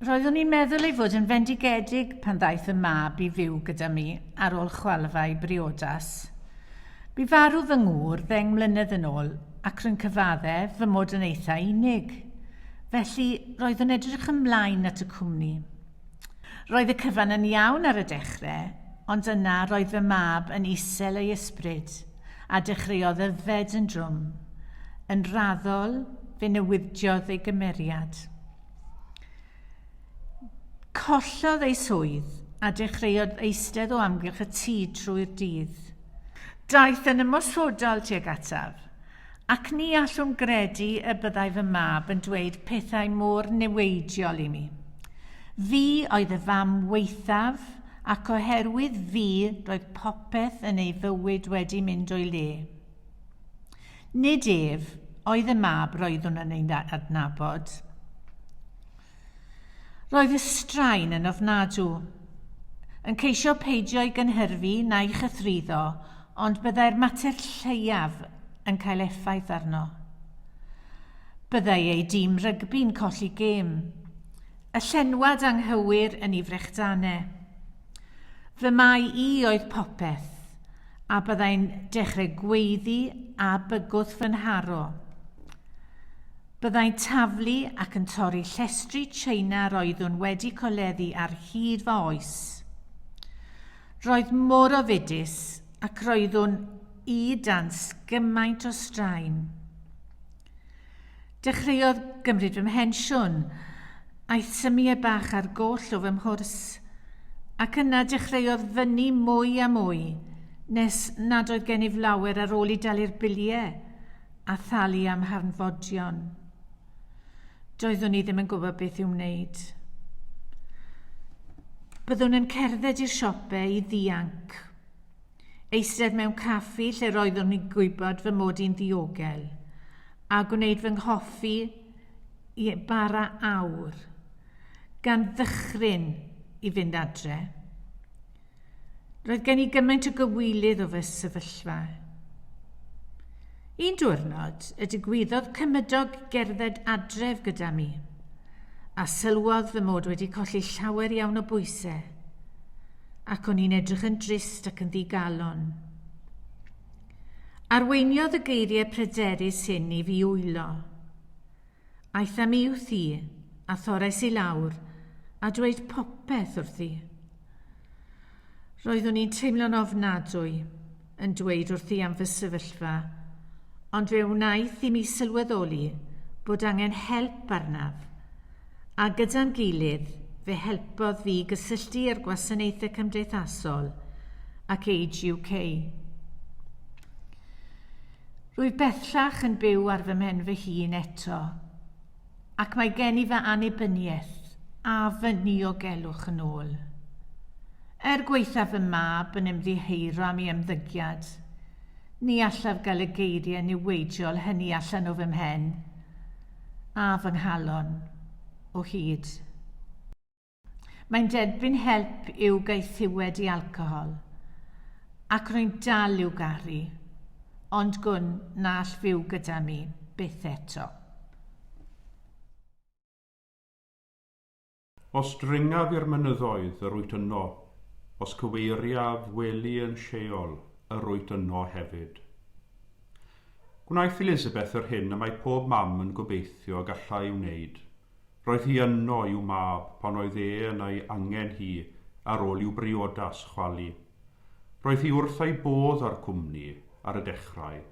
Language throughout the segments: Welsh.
Roeddwn i'n meddwl ei fod yn fendigedig pan ddaeth y mab i fyw gyda mi ar ôl chwalfau briodas. Bu farw fy ngŵr ddeng mlynedd yn ôl ac rwy'n cyfadde fy mod yn eithaf unig. Felly, roeddwn edrych ymlaen at y cwmni. Roedd y cyfan yn iawn ar y dechre, ond yna roedd fy mab yn isel ei ysbryd, a dechreuodd yfed yn drwm. Yn raddol, fe newidiodd ei gymeriad. Collodd ei swydd, a dechreuodd eistedd o amgylch y tŷ trwy'r dydd. Daeth yn ymosodol tuag ataf, Ac ni allwn gredu y byddai fy mab yn dweud pethau mor niweidiol i mi. Fi oedd y fam waethaf, ac oherwydd fi roedd popeth yn ei fywyd wedi mynd o'i le. Nid ef oedd y mab roeddwn yn ei adnabod. Roedd y straen yn ofnadw. Yn ceisio peidio ei gynhyrfu na'i chythruddo, ond byddai'r mater lleiaf yn cael effaith arno. Byddai ei dîm rygbi'n colli gêm. Y llenwad anghywir yn ei frechdanau. Fy mai i oedd popeth, a byddai'n dechrau gweiddi a bygwth fy nharo. Byddai'n taflu ac yn torri llestri Tsieina yr oeddwn wedi coleddu ar hyd fy oes. Roedd mor ofidus ac roeddwn i dan sgymaint o straen. Dechreuodd gymryd fy mhensiwn, aeth symiau bach ar goll o fy mhwrs, ac yna dechreuodd fynnu mwy a mwy, nes nad oedd gennyf lawer ar ôl i dalu'r biliau, a thalu am harnfodion. Doeddwn i ddim yn gwybod beth i'w wneud. Byddwn yn cerdded i'r siopau i ddianc. Eistedd mewn caffi lle roeddwn i'n gwybod fy mod i'n ddiogel, a gwneud fy nghoffi i bara awr, gan ddychryn i fynd adre. Roedd gen i gymaint o gywilydd o fy sefyllfa. Un diwrnod, y digwyddodd cymydog gerdded adref gyda mi, a sylwodd fy mod wedi colli llawer iawn o bwysau, ac o'n i'n edrych yn drist ac yn ddigalon. Arweiniodd y geiriau pryderus hyn i fi wylo. Aeth â mi wrth i, a thorrais i lawr, a dweud popeth wrthi. Roeddwn i'n teimlo'n ofnadwy, yn dweud wrthi am fy sefyllfa, ond fe wnaeth i mi sylweddoli bod angen help arnaf, a gyda'n gilydd fe helpodd fi gysylltu â'r gwasanaethau cymdeithasol ac Age UK. Rwyf bellach yn byw ar fy mhen fy hun eto, ac mae gen i fy annibyniaeth a fy niogelwch yn ôl. Er gwaethaf fy mab yn ymddiheuro am ei ymddygiad, ni allaf gael y geiriau niweidiol hynny allan o fy mhen a fy nghalon o hyd. Mae'n derbyn help i'w gaethiwed i alcohol, ac rwy'n dal i'w garu, ond gwn na all fyw gyda mi byth eto. Os dringaf i'r mynyddoedd, yr wyt yno, os cyweiriaf wely yn Sheol, yr wyt yno hefyd. Gwnaeth Elizabeth yr hyn y mae pob mam yn gobeithio y gallai ei wneud, Roedd hi yno i'w mab pan oedd e yn ei angen hi ar ôl i'w briodas chwalu. Roedd hi wrth ei bodd â'r cwmni ar y dechrau,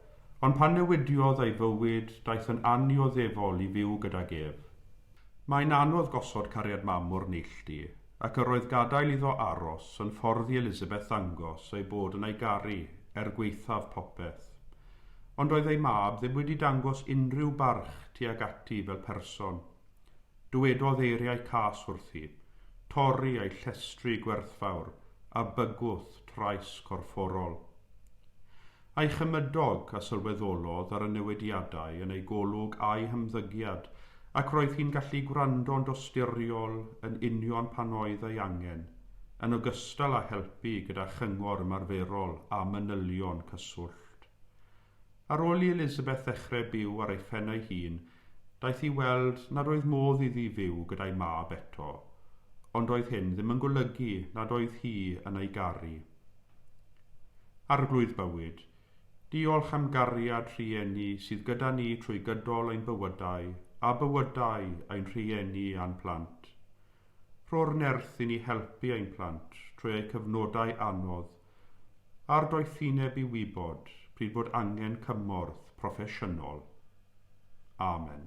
ond pan newidiodd ei fywyd daeth yn annioddefol i fyw gydag ef. Mae'n anodd gosod cariad mam mor neilltu, ac yr oedd gadael iddo aros yn ffordd i Elizabeth ddangos ei bod yn ei garu er gwaethaf popeth. ond doedd ei mab ddim wedi dangos unrhyw barch tuag ati fel person. Dywedodd eiriau cas wrthi, torri a'i llestri gwerthfawr a bygwth trais corfforol. A'i chymydog a sylweddolodd ar y newidiadau yn ei golwg a'i hymddygiad ac roedd hi'n gallu gwrando'n dosturiol yn union pan oedd ei angen, yn ogystal â helpu gyda chyngor ymarferol a manylion cyswllt. Craft. Ar ôl i Elizabeth ddechrau byw ar ei phen ei hun, daeth i weld nad oedd modd iddi fyw gyda'i mab eto, ond roedd hyn ddim yn golygu nad oedd hi yn ei garu. Arglwydd Bywyd, diolch am gariad rhieni sydd gyda ni trwy gydol ein bywydau a bywydau ein rhieni a'n plant. Rho'r nerth i ni helpu ein plant trwy eu cyfnodau anodd a'r doethineb i wybod pryd bod angen cymorth proffesiynol. Amen.